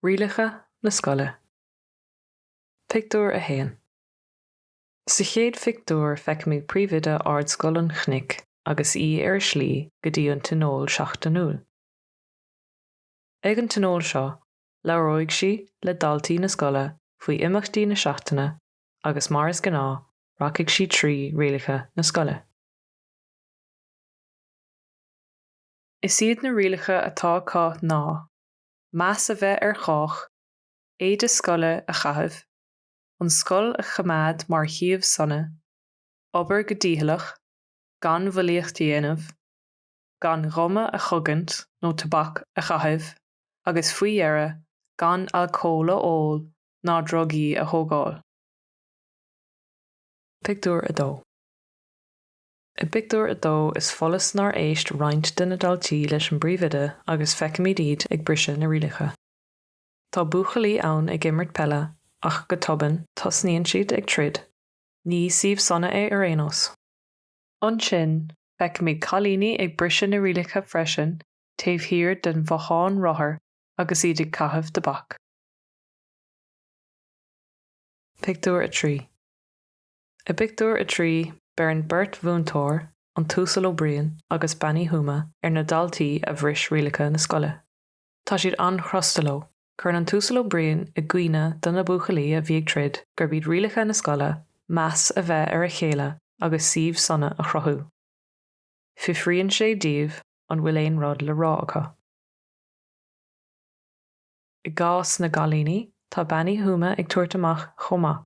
Rialacha na Scoile. Pictiúr 1 Sa chéad phictiúr feicimid Príomhoide Ardscoil an Chnoic agus í ar a slí go dtí an tionól seachtainiúil. Ag an tionól seo, labhróidh sí le daltaí na scoile faoi imeachtaí na seachtaine agus mar is gnáth, rachaidh sí trí rialacha na scoile. Is iad na rialacha atá acu ná, meas a bheith ar chách, éide scoile a chaitheamh, an scoil a choimeád mar shuíomh sona, obair go dícheallach, gan bhulaíocht a dhéanamh, gan ghuma a chogaint nó tobac a chaitheamh agus, faoi dheireadh, gan alcól a ól ná drugaí a thógáil. Pictiúr 2 I bpictiúr a dó is follas nár éist roinnt de na daltaí leis an bpríomhoide agus feicimid iad ag briseadh na rialacha. Tá buachaillí ann ag imirt peile ach go tobann tosnaíonn siad ag troid. Ní suíomh sona é ar aon nós. Ansin feicimid cailíní ag briseadh na rialacha freisin taobh thiar den bhothán rothar agus iad ag caitheamh tobac. Pictiúr 3 I bpictiúr a trí, beireann beirt mhúinteoir, an tUasal Ó Briain agus Bean Uí Thuama, ar na daltaí a bhris rialacha na scoile. Tá siad an-chrosta leo. Cuireann an tUasal Ó Briain i gcuimhne do na buachaillí a bhí ag troid gurb iad rialacha na scoile meas a bheith ar a chéile agus suíomh sona a chruthú. Fiafraíonn sé díobh an bhfuil aon rud le rá acu. I gcás na gcailíní, tá Bean Uí Thuama ag tabhairt amach chomh maith.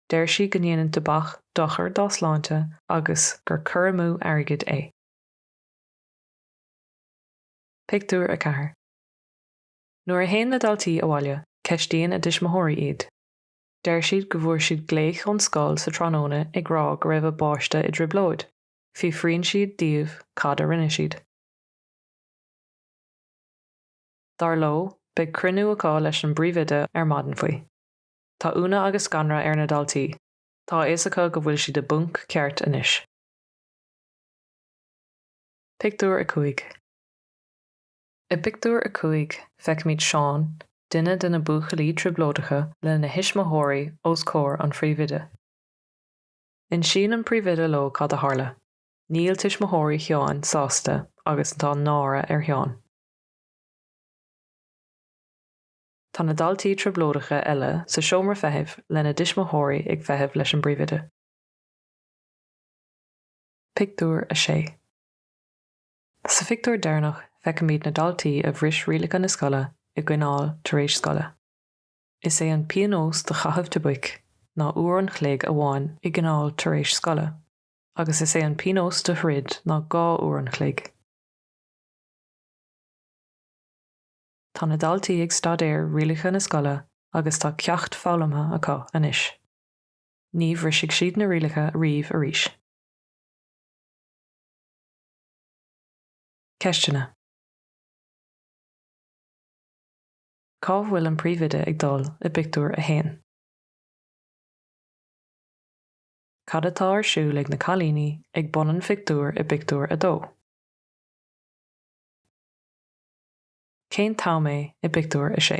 Deir sí go ndéanann tobac dochar dá sláinte agus gur cur amú airgid é. Pictiúr 4 Nuair a théann na daltaí abhaile, ceistíonn a dtuismitheoirí iad. Deir siad go bhfuair siad glaoch ón scoil sa tráthnóna ag rá go raibh a bpáiste i dtrioblóid. Fiafraíonn siad díobh cad a rinne siad. Dar leo, beidh cruinniú acu leis an bpríomhoide ar maidin faoi. Tá ionadh agus scanradh ar na daltaí, tá a fhios acu go bhfuil siad i bponc ceart anois. Pictiúr 5 I bpictiúr a cúig, feicimid Seán, duine de na buachaillí trioblóideacha, lena thuismitheoirí os comhair an phríomhoide. Insíonn an príomhoide leo cad a tharla. Níl tuismitheoirí Sheáin sásta agus tá náire ar Sheán. Tá na daltaí trioblóideacha eile sa seomra feithimh lena dtuismitheoirí ag feitheamh leis an bpríomhoide. Pictiúr 6 Sa phictiúr deireanach feicimid na daltaí a bhris rialacha na scoile i gcoinneáil tar éis scoile. Is é an pionós do chaitheamh tobaic ná uair an chloig amháin i gcoinneáil tar éis scoile agus is é an pionós do throid ná dhá uair an chloig. Tá na daltaí ag staidéar rialacha na scoile agus tá ceacht foghlamtha acu anois. Ní bhrisfidh siad na rialacha riamh arís. Ceisteanna. Cá bhfuil an príomhoide ag dul i bpictiúr a haon? Cad atá ar siúl ag na cailíní ag bun an phictiúir i bpictiúr a dó? Cén t-am é i bpictiúr a sé?